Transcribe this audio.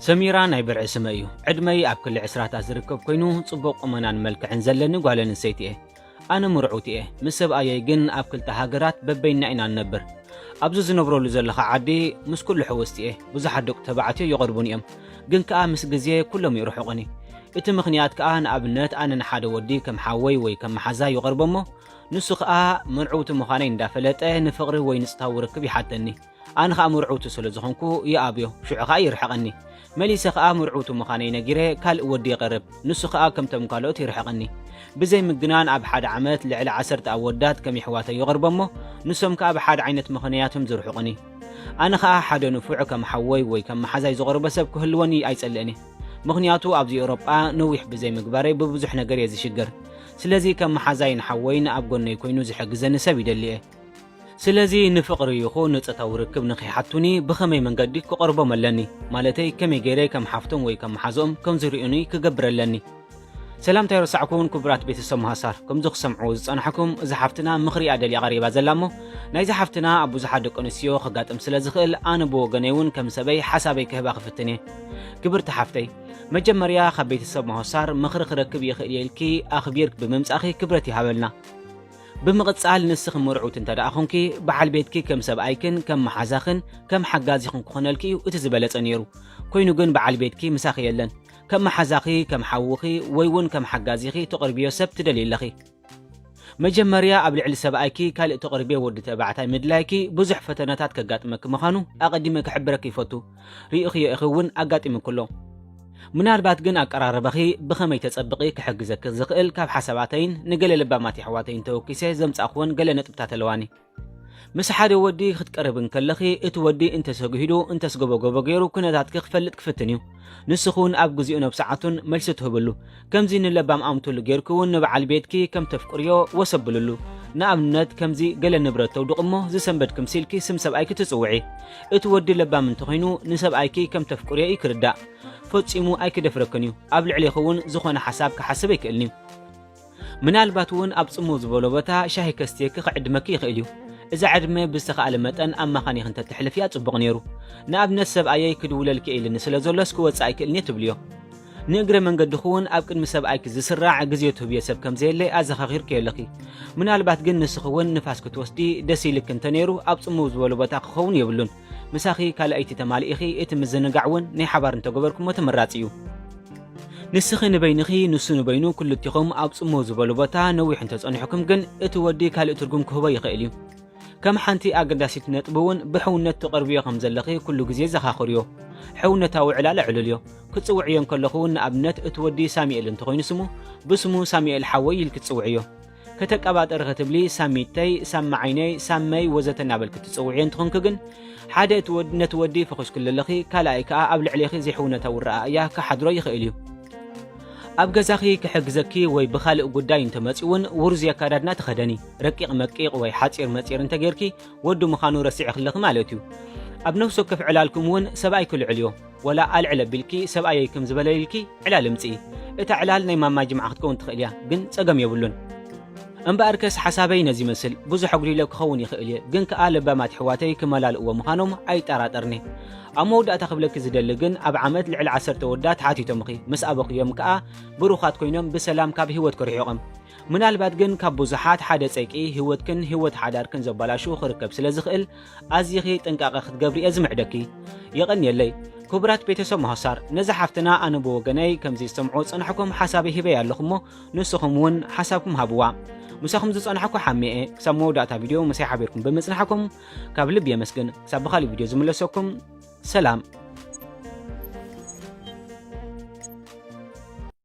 ሰሚራ ናይ ብርዒ ስመ እዩ ዕድመይ ኣብ ክሊ ዕስራታት ዝርከብ ኮይኑ ጽቡቕ ቁመናን መልክዕን ዘለኒ ጓል ኣንስተይቲ እየ ኣነ ምርዑት እየ ምስ ሰብኣየይ ግን ኣብ ክልተ ሃገራት በበይና ኢና ንነብር ኣብዚ ዝነብረሉ ዘለኻ ዓዲ ምስ ኩሉ ሕውስቲ እየ ብዙሓት ደቂ ተባዕትዮ ይቐርቡን እዮም ግን ከኣ ምስ ግዜ ኩሎም ይርሕቑኒ እቲ ምኽንያት ከኣ ንኣብነት ኣነ ንሓደ ወዲ ከም ሓወይ ወይ ከም መሓዛ ይቐርቦ እሞ ንሱ ከኣ መርዕውቲ ምዃነይ እንዳፈለጠ ንፍቕሪ ወይ ንጽታዊ ርክብ ይሓተኒ። ኣነ ከኣ መርዕውቲ ስለ ዝኾንኩ ይኣብዮ፣ ሽዑ ከኣ ይርሕቐኒ። መሊሰ ከኣ መርዕውቲ ምዃነይ ነጊረ ካልእ ወዲ ይቐርብ፣ ንሱ ከኣ ከምቶም ካልኦት ይርሕቐኒ። ብዘይ ምግናን ኣብ ሓደ ዓመት ልዕሊ ዓሰርተ ኣወዳት ከም የሕዋተይ ይቐርቦ'ሞ ንሶም ከኣ ብሓደ ዓይነት ምኽንያት'ዮም ዝርሕቑኒ። ኣነ ከኣ ሓደ ንፉዕ ከም ሓወይ ወይ ከም መሓዛይ ዝቐርቦ ሰብ ክህልወኒ ኣይጸልእን'የ። ምኽንያቱ ኣብዚ ኤውሮጳ ነዊሕ ብዘይ ምግባረይ ብብዙሕ ነገር'የ ዝሽገር። ስለዚ ከም መሓዛይን ሓወይን ኣብ ጎነይ ኮይኑ ዝሕግዘኒ ሰብ ይደሊ እየ። ስለዚ ንፍቕሪ ይኹን ንጾታዊ ርክብ ንኺሓቱኒ ብኸመይ መንገዲ ክቐርቦም ኣለኒ? ማለተይ ከመይ ገይረ ከም ሓፍቶም ወይ ከም መሓዝኦም ከም ዝርእዩኒ ክገብር ኣለኒ? ሰላምታ ኣይረሳዕኩን ክቡራት ቤተሰብ መሃሳር ከምዚ ክሰምዕዎ ዝጸናሕኩም እዚ ሓፍትና ምኽሪ እያ ደልያ ቀሪባ ዘላ እሞ ናይዚ ሓፍትና ኣብ ብዙሓት ደቂ ኣንስትዮ ከጋጥም ስለ ዝኽእል ኣነ ብወገነይ እውን ከም ሰበይ ሓሳበይ ክህባ ክፍትን እየ ክብርቲ ሓፍተይ መጀመርያ ካብ ቤተሰብ ማሆሳር ምኽሪ ክረክብ ይኽእል እየ ኢልኪ ኣኽቢርክ ብምምጻኺ ክብረት ይሃበልና። ብምቕጻል ንስኺ ምርዑት እንተ ደኣ ኹንኪ በዓል ቤትኪ ከም ሰብኣይክን ከም መሓዛኽን ከም ሓጋዚኽን ክኾነልኪ እዩ እቲ ዝበለጸ ነይሩ። ኮይኑ ግን በዓል ቤትኪ ምሳኺ የለን። ከም መሓዛኺ፣ ከም ሓውኺ ወይ እውን ከም ሓጋዚኺ ትቕርብዮ ሰብ ትደልዪ ኣለኺ። መጀመርያ ኣብ ልዕሊ ሰብኣይኪ ካልእ ተቕርብዮ ወዲ ተባዕታይ ምድላይኪ ብዙሕ ፈተነታት ከጋጥመኪ ምዃኑ ኣቐዲመ ክሕብረኪ ይፈቱ። ርኢኽዮ ኢኺ እውን ኣጋጢሙኪ ኣሎ። ምናልባት ግን ኣቀራርባኺ ብኸመይ ተጸብቒ ክሕግዘኪ ዝኽእል ካብ ሓሳባተይን ንገለ ለባማት የሕዋተይን ተወኪሰ ዘምጻእክወን ገለ ነጥብታት ኣለዋኒ። ምስ ሓደ ወዲ ክትቀርብ እንከለኺ እቲ ወዲ እንተሰግሂዱ እንተስገበገቦ ገይሩ ኩነታትኪ ክፈልጥ ክፍትን እዩ ንስኺ እውን ኣብ ግዜኡ ነብ ሰዓቱን መልሲ ትህብሉ ከምዚ ንለባም ኣምትሉ ገይርኪ እውን ንበዓል ቤትኪ ከም ተፍቅርዮ ወሰብልሉ ንኣብነት ከምዚ ገለ ንብረት ተውድቕ እሞ ዝሰንበድ ክምሲልኪ ስም ሰብኣይኪ ትጽውዒ እቲ ወዲ ለባም እንተኾይኑ ንሰብኣይኪ ከም ተፍቅርዮ እዩ ክርዳእ ፈጺሙ ኣይክደፍረክን እዩ ኣብ ልዕሌኺ እውን ዝኾነ ሓሳብ ክሓስብ ኣይክእልን እዩ ምናልባት እውን ኣብ ጽምው ዝበሎ ቦታ ሻሂ ከስትየኪ ክዕድመኪ ይኽእል እዩ እዛ ዕድመ ብዝተኻእለ መጠን ኣማኻኒኽ እንተተሕልፍያ ጽቡቕ ነይሩ ንኣብነት ሰብኣየይ ክድውለልኪ ኢልኒ ስለ ዘሎስ ክወጽእ ኣይክእልንየ ትብልዮ ንእግረ መንገድኹ እውን ኣብ ቅድሚ ሰብኣይኪ ዝስራዕ ግዜ ትህብዮ ሰብ ከም ዘየለ ኣዘኻኺርክዮ ኣለኺ ምናልባት ግን ንስኺ እውን ንፋስ ክትወስዲ ደስ ኢልክ እንተ ነይሩ ኣብ ጽምው ዝበሉ ቦታ ክኸውን የብሉን ምሳኺ ካልኣይቲ ተማሊኢኺ እቲ ምዝንጋዕ እውን ናይ ሓባር እንተገበርኩሞ ተመራጺ እዩ። ንስኺ ንበይንኺ ንሱ ንበይኑ ክልቲኹም ኣብ ጽምው ዝበሉ ቦታ ነዊሕ እንተጸኒሑኩም ግን እቲ ወዲ ካልእ ትርጉም ክህቦ ይኽእል እዩ። ከም ሓንቲ ኣገዳሲት ነጥቢ እውን ብሕውነት ትቐርብዮ ከም ዘለኺ ኩሉ ግዜ ዘኻኽርዮ። ሕውነታዊ ዕላል ዕሉልዮ። ክትጽውዕዮ እንከለኹ እውን ንኣብነት እቲ ወዲ ሳሚኤል እንተኾይኑ ስሙ ብስሙ ሳሚኤል ሓወይ ኢልኪ ትጽውዕዮ። ከተቀባጠሪ ክትብሊ ሳሚተይ፣ ሳማዓይነይ፣ ሳመይ ወዘተ እናበልኪ ትጽውዕዮ እንትኾንኪ ግን ሓደ እቲ ወድ ነቲ ወዲ ፈኹስክሉ ኣለኺ፣ ካልኣይ ከኣ ኣብ ልዕሌኺ ዘይሕውነታ ውረኣ እያ ክሓድሮ ይኽእል እዩ። ኣብ ገዛኺ ክሕግዘኪ ወይ ብኻልእ ጉዳይ እንተመጽዩ እውን ውርዙይ ኣካዳድና ተኸደኒ። ረቂቕ መቂቕ ወይ ሓጺር መጺር እንተጌርኪ ወዲ ምዃኑ ረሲዕኺ ኣለኺ ማለት እዩ። ኣብ ነፍሲ ወከፍ ዕላልኩም እውን ሰብኣይኪ ልዑል እዮ። ወላ ኣልዕል ኣቢልኪ ሰብኣየይ ከምዚ በለ ኢልኪ ዕላል እምጽኢ እታ ዕላል ናይ ማማ ጅምዓ ክትከውን ትኽእል እያ ግን ጸገም የብሉን እምበኣርከስ ሓሳበይ ነዚ ይመስል ብዙሕ ኣጉዲለ ክኸውን ይኽእል እየ ግን ከኣ ለባማት ኣሕዋተይ ክመላልእዎ ምዃኖም ኣይጠራጠርን እየ ኣብ መወዳእታ ክብለኪ ዝደሊ ግን ኣብ ዓመት ልዕሊ ዓሰርተ ኣወዳት ሓቲቶምኺ ምስ ኣበኽዮም ከኣ ብሩኻት ኮይኖም ብሰላም ካብ ህይወትኪ ርሒቖም ምናልባት ግን ካብ ብዙሓት ሓደ ጸይቂ ህይወትክን ህይወት ሓዳርክን ዘበላሹ ክርከብ ስለ ዝኽእል ኣዚኺ ጥንቃቐ ክትገብሪ እየ ዝምዕደኪ። የቐንየለይ። ክቡራት ቤተሰብ ሞሆሳር ነዛ ሓፍትና ኣነ ብወገነይ ከምዚ ዝሰምዖ ዝጸናሕኩም ሓሳበይ ሂበያ ኣለኹ እሞ ንስኹም እውን ሓሳብኩም ሃብዋ። ምሳኹም ዝጸናሕኩ ሓሜ እየ። ክሳብ መወዳእታ ቪድዮ ምሳይ ሓቢርኩም ብምጽናሕኩም ካብ ልቢ የመስግን። ክሳብ ብኻልእ ቪድዮ ዝምለሰኩም ሰላም።